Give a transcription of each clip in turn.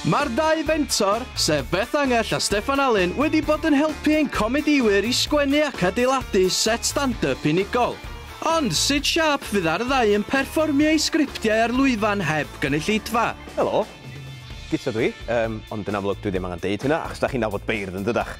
Mae'r dau fentor, sef Beth Angell a Steffan Alun wedi bod yn helpu ein comedïwyr i sgwennu ac adeiladu set stand-up unigol. Ond, sut siâp fydd ar y ddau yn perfformio eu sgriptiau ar lwyfan heb gynulleidfa? Helo. Guto dw i. Yym, ond yn amlwg dwi ddim angen deud hynna, achos 'da chi'n nabod beirdd, yn dydach?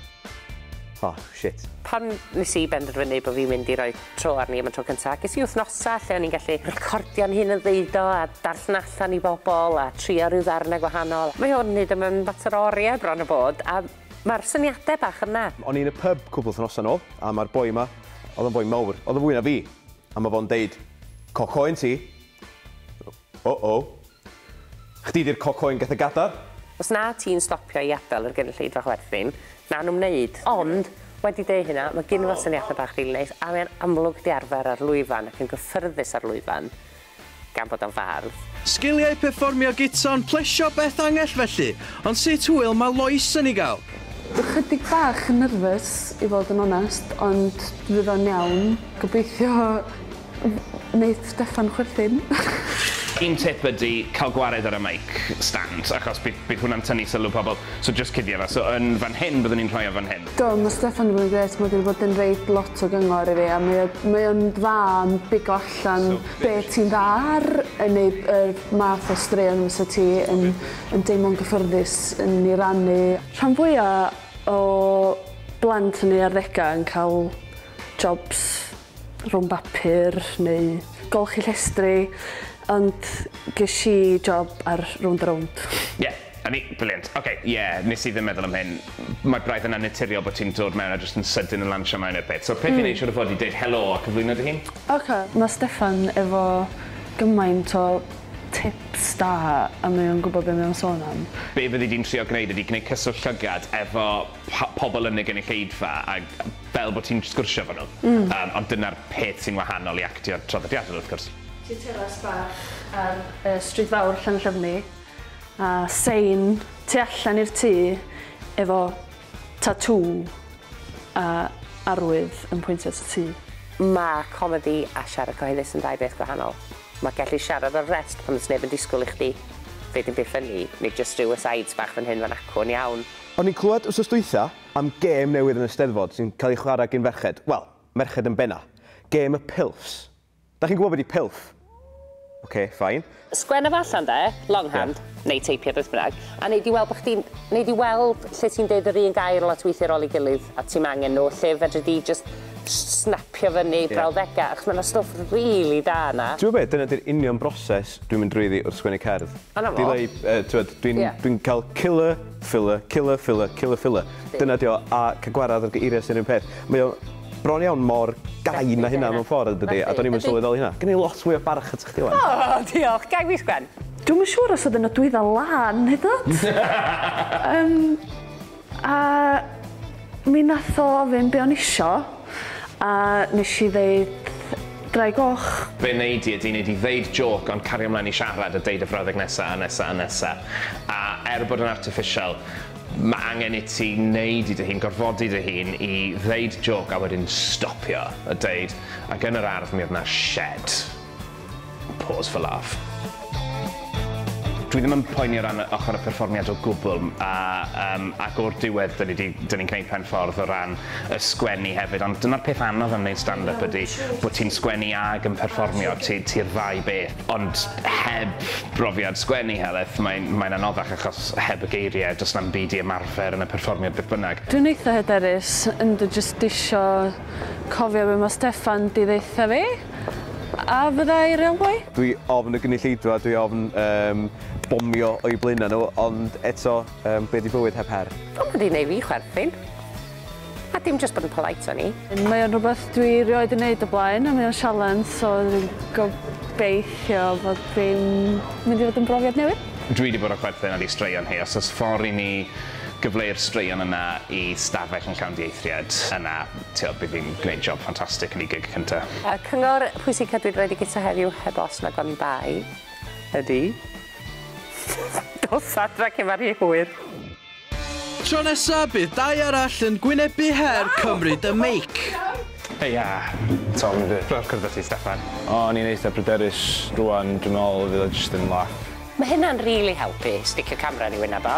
Oh, shit. Pan nes i benderfynu bod fi'n mynd i roi tro arni am y tro cyntaf, ges i wythnosau lle o'n i'n gallu recordio'n hun yn ddeud o a darllen allan i bobl a trio rhyw ddarnau gwahanol. Mae hwn hyd yma yn fater o oriau bron a bod a mae'r syniadau bach yna. O'n i yn y pyb cwpl wythnosau nôl a mae'r boi yma, oedd o'n foi mawr, oedd o'n fwy na fi, a mae fo'n deud, Coco un ti. Uh-oh. Chdi 'di'r coco yn Gethe Gadar. Os na ti'n stopio i adael yr gynulleidfa chwerthin, na'n ymwneud. Ond, wedi deud hynna, mae gynno fo syniadau bach rili neis, a mae'n amlwg 'di arfer ar lwyfan ac yn gyffyrddus ar lwyfan, gan bod o'n fardd. Sgiliau perfformio gita'n plesio Beth Angell felly, ond sut hwyl mae Lois yn ei gael? Ychydig bach yn nyrfys i fod yn onest, ond fydd o'n iawn, gobeithio. Wneith Steffan chwerthin. Un tip ydy cael gwared ar y mic stand achos bydd bydd hwnna'n tynnu sylw pobl, so jyst cuddio fe. So yn fan hyn byddwn i'n rhoi o fan hyn. Do, mae Steffan 'di bod yn grêt, mae 'di bod yn roid lot o gyngor i fi a mae o mae o'n dda yn bigo allan be' ti'n dda ar yn neud yr math o straeon fysa ti yn yn deimlo'n gyffyrddus yn 'i rannu. Rhan fwya o blant yn eu arddega yn cael jobs rhwng bapur neu golchi llestri, ond ges i job ar Rownd a Rownd. Ie, o'n i, brilliant. Oce, ie, nes i ddim meddwl am hyn. Mae braidd yn annaturiol bod ti'n dod mewn a jyst yn sydyn yn lansio mewn i'r peth. So peth i neud siŵr o fod yw deud helo a cyflwyno dy hun. Oce, mae Steffan efo gymaint o tips da a mae o'n gwbod be' mae o'n sôn am. Be' fyddi di'n trio gneud ydi gneud cyswllt llygad efo po- pobol yn y gynulleidfa ag fel bo' ti'n sgwrsio efo nhw. Hmm. Yym ond dyna'r peth sy'n wahanol i actio traddodiadol wrth gwrs. Ti teras bach ar y stryd fawr Llanllyfni a sein tu allan i'r tŷ efo tatŵ a arwydd yn pwyntio at y tŷ. Ma' comedi a siarad cyhoeddus yn ddau beth gwahanol. Ma' gellu siarad ar rest pan does neb yn disgwyl i chdi ddeud dim byd ffyni neu jyst rhyw asides bach fan hyn fan acw yn iawn. O'n i'n clywed wsos dwytha am gêm newydd yn y Steddfod sy'n cael ei chwarae gin ferched, wel, merched yn benna'. Gêm y pilfs. Dach chi'n gwybod be' 'di pilf? Ok, fine. Sgwenna fo allan 'de, long hand, neu teipio, beth bynnag, a nei di weld bo' chdi'n, nei di weld lle ti'n deud yr un gair lot weithie ar ôl ei gilydd, a ti'm angen nhw, lle fedri di jyst snapio fyny brawddega', achos ma' 'na stwff rili da 'na. T'mod be', dyna 'di'r union broses dwi'n mynd drwyddi wrth sgwennu cerdd. Dyna fo. Delay, yy t'mod, dwi'n... Ie. ...dwi'n cael killer Filler, killer, filler, killer, filler. Dyna dio, a ca gwarad ar geiriau sy'n run peth. Mae o bron iawn mor gain na hynna mewn ffordd dydi? A do'n i'm yn sylweddoli hynna. Gen i lot fwy o barch atach chdi wan. O, diolch. Gag fis Gwen. Dwi'm yn siŵr os oedd y nodwedda lân hyd yn oed. Yym a Mi wnaeth o ofyn be o'n isio a nes i ddeud ddraig goch. Be wnei di ydi wnei di ddeud jôc ond cario mlaen i siarad a deud y frawddeg nesa a nesa a nesa. A er bod yn artiffisial ma' angen i ti neud i dy hun, gorfodi dy hun i ddeud jôc a wedyn stopio a deud, ac yn yr ardd mi o'dd 'na shed. Pause for laugh. Dwi ddim yn poeni o ran ochr y perfformiad o gwbl a yym ac o'r diwedd 'dyn ni 'di 'dyn ni'n gneud pen ffordd o ran y sgwennu hefyd ond dyna'r peth anodd am neud stand up ydi bo' ti'n sgwennu ag yn perfformio ti ti'r ddau beth ond heb brofiad sgwennu helyth mae'n mae'n anoddach achos heb y geirie do's na'm byd i ymarfer yn y perfformiad beth bynnag. Dwi'n eitha hyderus yndw jyst isio cofio be ma Steffan 'di ddeutha fi. A fyddai railway? Dwi ofn y gynulleidfa, dwi ofn yym bomio o'u blaenau nhw, ond eto yym be 'di bywyd heb her? O ma 'di neu' fi chwerthin. A dim jyst bod yn polite o'n i. Mae o'n rwbeth dwi rioed 'di neud o blaen a mae o'n sialens so dwi'n gobeithio fod fi'n mynd i fod yn brofiad newydd. Dwi 'di bod yn chwerthin ar ei straeon hi. Os o's ffor i ni gyfleu'r straeon yna i stafell yn llawn dieithriad, yna Tybed bydd hi'n gwneud job ffantastig yn ei gig cynta. Y cyngor pwysica dwi 'di roid i Guto heddiw, heb os nag oni bai, ydi, dos adra cyn ma rhy hwyr! Tro nesa bydd dau arall yn gwynebu her cymryd y meic. Heia! Tom yn ddiddorol cwrdd â ti Steffan. O'n i'n eitha pryderus, rwan dwi'n meddwl fydd o jyst yn laff. Mae hynna'n rili helpu, sticio camera yn ei wyneb o.